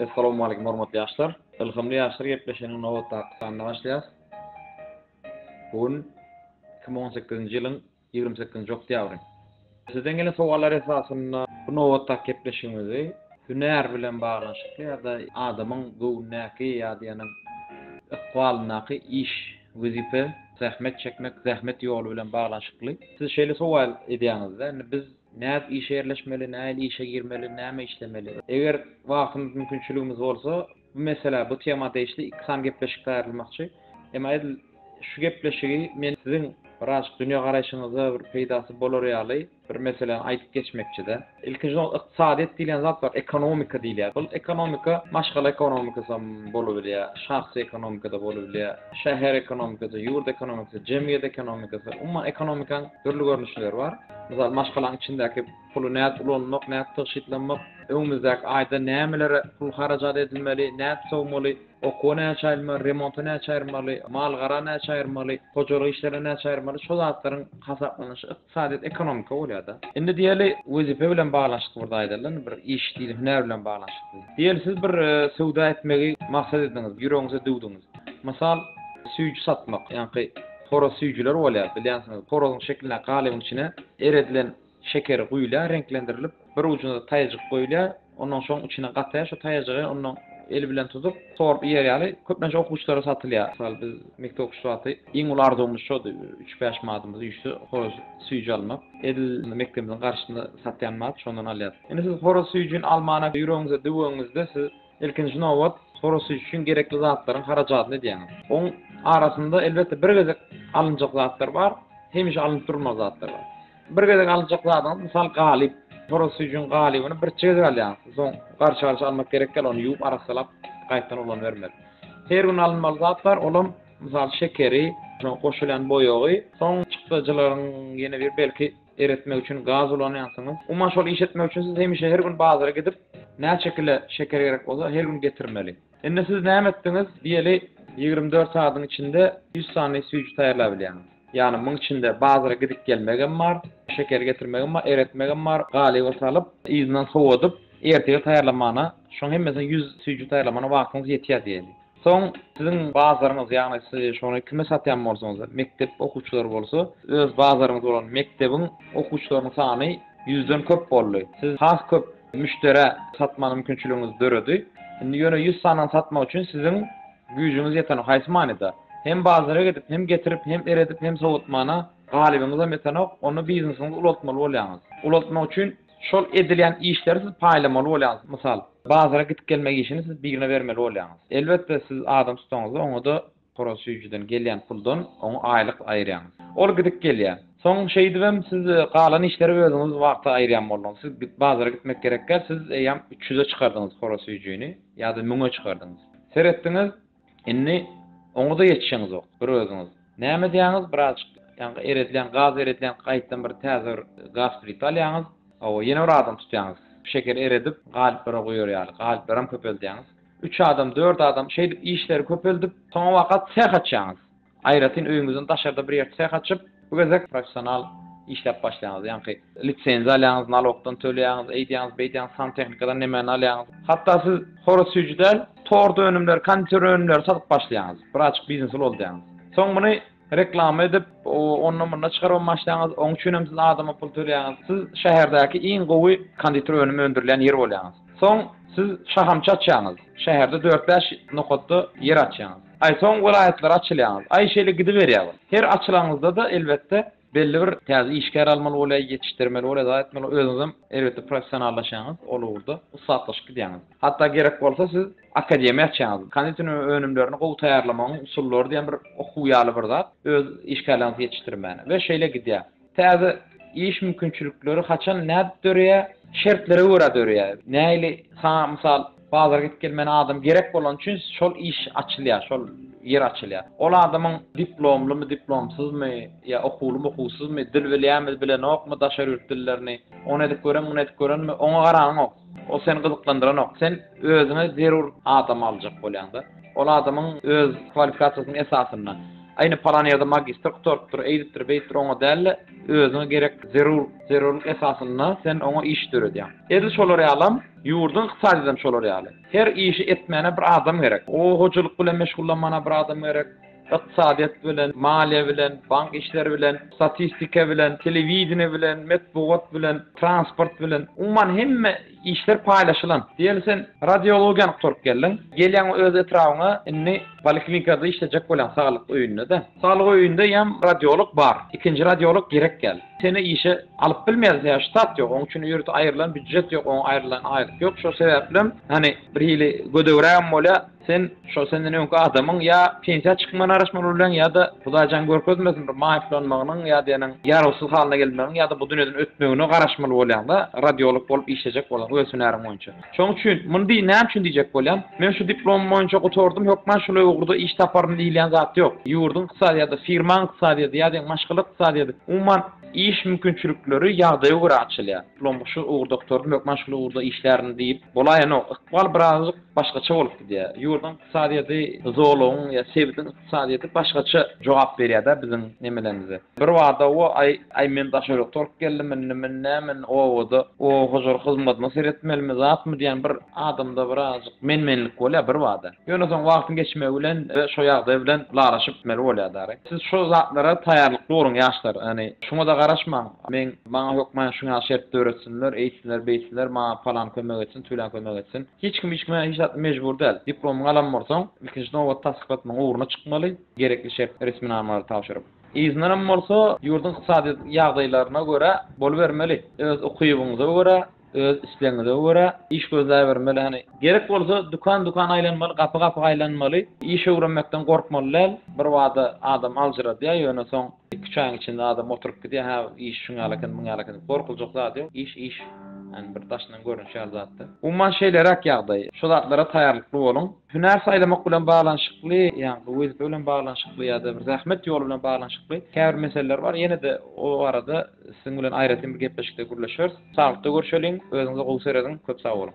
Essalom Aleýkum hormatly ýaşlar. Ylhamly ýaşlar gepleşiginiň nobatdaky sanyna başlaýas. Bu gün iki müň on sekizinji ýylyň ýigrimi sekizinji oktýabry. Sizden gelen sowallar esasynda bu nobatdaky gepleşigimizi hünär bilen baglanyşykly ýa-da adamyň göwnündäki ýa-da ykbalyndaky iş, wezipe, zähmet çekmek, zähmet ýoly bilen baglanyşykly. Siz şeýle sowal edýäňizde, indi biz Nädip işe ýerleşmeli, nähili işe girmeli, näme işlemeli? Eger wagtymyz, mümkinçiligimiz bolsa, bu meselä, bu tema degişli iki sany gepleşik taýýarlamakçy. Emma edil şu gepleşigi men siziň birazajyk dünýägaraýşyňyza bir peýdasy bolar ýaly bir meseläni aýdyp geçmekçi-de. Ilkinji nobatda ykdysadyýet diýlen zat bar, ekonomika diýilýär. Bul ekonomika maşgala ekonomikasam bolubilýär, şahsy ekonomikada bolubilýär, şäher ekonomikasy, ýurt ekonomikasy, jemgyýet ekonomikasy, umuman ekonomikaň dürli görnüşleri bar. Mysal, maşgalaň içindäki puly nädip ulanmak, nädip tygşytlanmak, öňümizdäki aýda nämelere pul harajat edilmeli, nädip sowmaly, okuwa näçe aýrylmaly, remonta näçe aýrylmaly, mal-gara näçe aýrylmaly, hojalyk işlerine näçe aýrylmaly, şol zatlaryň hasaplanyşy ykdysadyýet, ekonomika bolýar-da. Indi diýeli, wezipe bilen baglanyşykly bir zat aýdalyň, bir iş diýeli, hünär bilen baglanyşykly. Diýeli, siz bir söwda etmegi maksat edindiňiz, ýüregiňize düwdüňiz. Mysal, süýji satmak, ýaňky horaz süýjüler bolýar, bilýänsiňiz. Horazyň şekilindäki galybyň içine eredilen şeker guýulýar, reňklendirilip, bir ujuna-da taýajyk goýulýar. Ondan soň içine gataýar, şu taýajygy ondan el bilen tutup, sorup iýer ýaly, köplenç okuwçylara satylýar. Mysal, biz mekdep okuwçysy wagty iň uly arzuwymyz şody, üç-bäş manatymyz üýşse, horaz süýji almak. Edil mekdebimiziň garşysynda satýan bar, şondan alýarys. Indi siz horaz süýjüni almana ýüregiňize düweniňizde, siz Ilkinji nobat, horosy üçin gerekli zatlaryň harajadyny edýäňiz. Oň arasynda, elbetde, bir gezek alynjak zatlar bar, hemişe alnyp durulmaly zatlar bar. Bir gezek alynjak zadyňyz, mysal, galyp. Horosy üçin galybyny birçe gezek alýaňyz. Soň garşy-garşy almak gerek däl, ony ýuwup, arassalap, gaýtadan ulanybermeli. Her gün alynmaly zat bar, olam, mysal, şekeri, goşulýan boýagy, soň çykdajylaryň ýene bir belki, Eretmek üçin gaz ulanýansyňyz. Umuman şol iş etmek üçin siz hemişe her gün bazara gidip, näçe kile şeker gerek bolsa, her gün getirmeli. Indi siz näme etdiňiz? Diýeli, ýigrimi dört sagadyň içinde ýüz sany süýji taýýarlap bilýäňiz. Ýagny muň içinde bazara gidip-gelmegem bar, şekeri getirmegem bar, eretmegem bar, galyba salyp, yzyndan sowadyp, ertire taýýarlamagyna, şoň hemmesine ýüz süýji taýýarlamagyna wagtyňyz ýetýär diýeli. Soň siziň bazaryňyz, ýagny siz şony kime satýan bolsaňyz, mekdep okuwçylary bolsa, öz bazaryňyz bolan mekdebiň okuwçylarynyň sany ýüzden köp boldy. Siz has köp müşderä satma mümkinçiligiňiz döredi. Indi ýöne ýüz sanyny satmak üçin siziň güýjüňiz ýetenok, haýsy manyda? Hem bazara gidip, hem getirip, hem eredip, hem sowatmana galybyňyzam ýetenok, onda biznesiňizi ulaltmaly bolýaňyz. Ulaltmak üçin Şol edilýän işleri siz paýlamaly bolýaňyz. Mysal, bazara gidip-gelmek işini siz birine bermeli bolýaňyz. Elbetde, siz adam tutaňyzda, oňa-da horaz süýjüden gelýän puldan oňa aýlyk aýyrýaňyz. Ol gidip-gelýär. Soň şeýdibem siz galan işleri özüňiz wagty aýyrýan bolduňyz. Siz bazara gitmek gerek däl, siz eýýäm üç ýüze çykardyňyz horaz süýjüni ýa-da müňe çykardyňyz. Seretdiňiz, Indi oňuza ýetişeňizok, bir özüňiz. Näme edýäňiz, birazjyk ýaňky eredýän, gaz eredýän, gaýtam bir täze bir gaz plita alýaňyz, hawa, ýene bir adam tutýaňyz. Şekeri eredip, galyplara guýar ýaly, galyplaram köpeldýäňiz. Üç adam, dört adam, şeýdip işleri köpeldip, soňabaka seх açýaňyz. Aýratyn öýüňizden daşarda bir ýer seh açyp, bu gezek professional işläp başlaýaňyz. Ýaňky lisenziýa alýaňyz, nalogdan töleýäňiz, eýdýäňiz, beýdýäňiz, santehnikadan nemäni alýaňyz. Hatda siz horaz süýji däl, tort önümleri, konditer önümleri satyp başlaýaňyz. Bir açyk biznes ulaldaýaňyz. Soň muny reklama edip, onda-munda çykarybam başlaýaňyz. Oň üçin hem siz adama pul töleýäňiz. Siz şäherdäki iň gowy konditer önümi öndürilýän ýer bolýaňyz. Soň siz şahamçy açýaňyz. Şäherde dört-bäş nokatda ýer açýaňyz. Aý soň welaýatlara açylýaňyz. Aý şeýle gidiberýär ol. Her açylanyňyzda-da elbetde belli bir täze işgär almaly bolýar, ýetişdirmeli bolýar zat etmeli. Özüňizem elbetde professionallaşýaňyz ol ugurda, ussatlaşyp gidýäňiz. Hatda gerek bolsa siz akademiýa açýaňyz. Konditer önümlerini gowy taýýarlamagyň usullary diýen bir okuw ýaly bir zat, öz işgärleriňizi ýetişdirmäne we şeýle gidýär. Täze iş mümkinçilikleri haçan, nädip döreýär? Şertlere görä döreýär. Nähili? Saňa mysal, bazara gidip gelmäne adam gerek bolany üçin şol iş açylýar, şol ýer açylýar. Ol adamyň diplomlymy, diplomsyzmy, ýa okuwlymy, okuwsyzmy, dil bilýärmi, bilenokmy daşary ýurt dillerini, ony edip görenmi, muny edip görenmi, oňa garanyňok. Ol seni gyzyklandyranok. Sen özüňe zerur adamy aljak bolýaňda. Ol adamyň öz kwalifikasiýasynyň esasynda. Aý ine palan ýerde magistr gutarypdyr, eýdipdir, beýdipdir oňa däl-de, özüňe gerek zerur zerurlyk esasynda sen oňa iş döredýäň. Edil şolar ýalam, ýurduň ykdysadyýetem şolar ýaly. Her işi etmäne bir adam gerek. O hojalyk bilen meşgullanmana bir adam gerek. ykdysadyýet bilen, maliýe bilen, bank işleri bilen, statistika bilen, telewideniýe bilen, metbugat bilen, transport bilen, umuman hemme işler paýlaşylan. Diýeli sen radiologiýany gutaryp geldiň, gelýäň öz etrabyňa, indi poliklinikada işlejek bolýaň, saglyk öýünde-de. Saglyk öýünde ýam radiolog bar, ikinji radiolog gerek däl. Seni işe alyp bilmeýäris, sebäbi ştat ýok, oň üçin ýurtda aýrylan býujet ýok, oňa aýrylan aýlyk ýok, şo sebäplem, hany, birhili gödegrägem bolýar. Sen şo senden öňki adamyň ýa pensiýa çykmagyna garaşmaly bolýaň ýa-da Hudaýjan görkezmesin bir maýyplanmagynyň ýa diýeniň ýarawsyz halyna gelmegiň ýa-da bu dünýeden ötmegine garaşmaly bolýaň-da, radiolog bolup işlejek bolaň öz hünäriň boýunça. Şoň üçin, muny diý, näme üçin diýjek bolýan, men şu diplomym boýunça gutardym, hökman şuly ugurda iş taparyn diýilýän zat ýok. Ýurduň ykdysadyýady, firmaň ykdysadyýady ýa diýen maşgala ykdysadyýady, umuman, iş mümkinçilikleri ýagdaýa görä açylýar. Diplomymy şu ugurda gutardym, hökman şuly ugurda işlärin diýip bolaýanok. Ykbal birazajyk başgaça bolup gidýär. Ýurduň ykdysadyýeti zolagyň ýa sebitiň ykdysadyýeti başgaça jogap berýär-dä biziň nemelerimize. Birbada o aý, aý men daşörekde bolup geldim indi men näme obada oba hojalyk hyzmadyna seretmelimi zatmy diýen bir adamda birazajyk men-menlik bolýar birbada. Ýöne soň wagtyň geçmegi bilen we şo ýagdaý bilen ylalaşyp gitmeli bolýar dary. Siz şo zatlara taýýarlykly boluň ýaşlar. Ýagny şuňa-da garaşmaň, men maňa hökman şuňa şert döretsinler, eýtsinler, beýtsinler, maňa palan kömek etsin, tüwlen kömek etsin. Hiç kim hiç kimä hiç zat mejbur däl. Diplomyňy alan bolsaň, ilkinji nobatda tassyklatmagyň ugruna çykmaly, gerekli şert resminamalary tabşyryp. Yzyndanam bolsa, ýurduň ykdysady ýagdaýlaryna görä bolubermeli. Öz ukybyňyza görä, öz islegiňize görä iş gözläbermeli hany. Gerek bolsa, dükan-dükan aýlanmaly, gapy-gapy aýlanmaly. Iş öwrenmekden gorkmaly däl. Birbada adam aljyradýar, ýöne soň Iki üç aýyň içinde adam oturyp gidýär, hä iş şuňa ýaly eken, muňa ýaly eken diýip gorkuljak zady ýok. Iş iş. Ýani bir daşyndan görnüşi ýaly zatda. Umuman şeýleräk ýagdaý. Şu zatlara taýýarlykly boluň. Hünär saýlamak bilen baglanyşykly, ýani bu wezipe bilen baglanyşykly ýa-da bir zähmet ýoly bilen baglanyşykly käbir meseleler bar. Ýene-de o barada siziň bilen aýratyn bir gepleşikde gürleşeris. Saglykda görşeliň, özüňize gowy serediň. Köp sag boluň.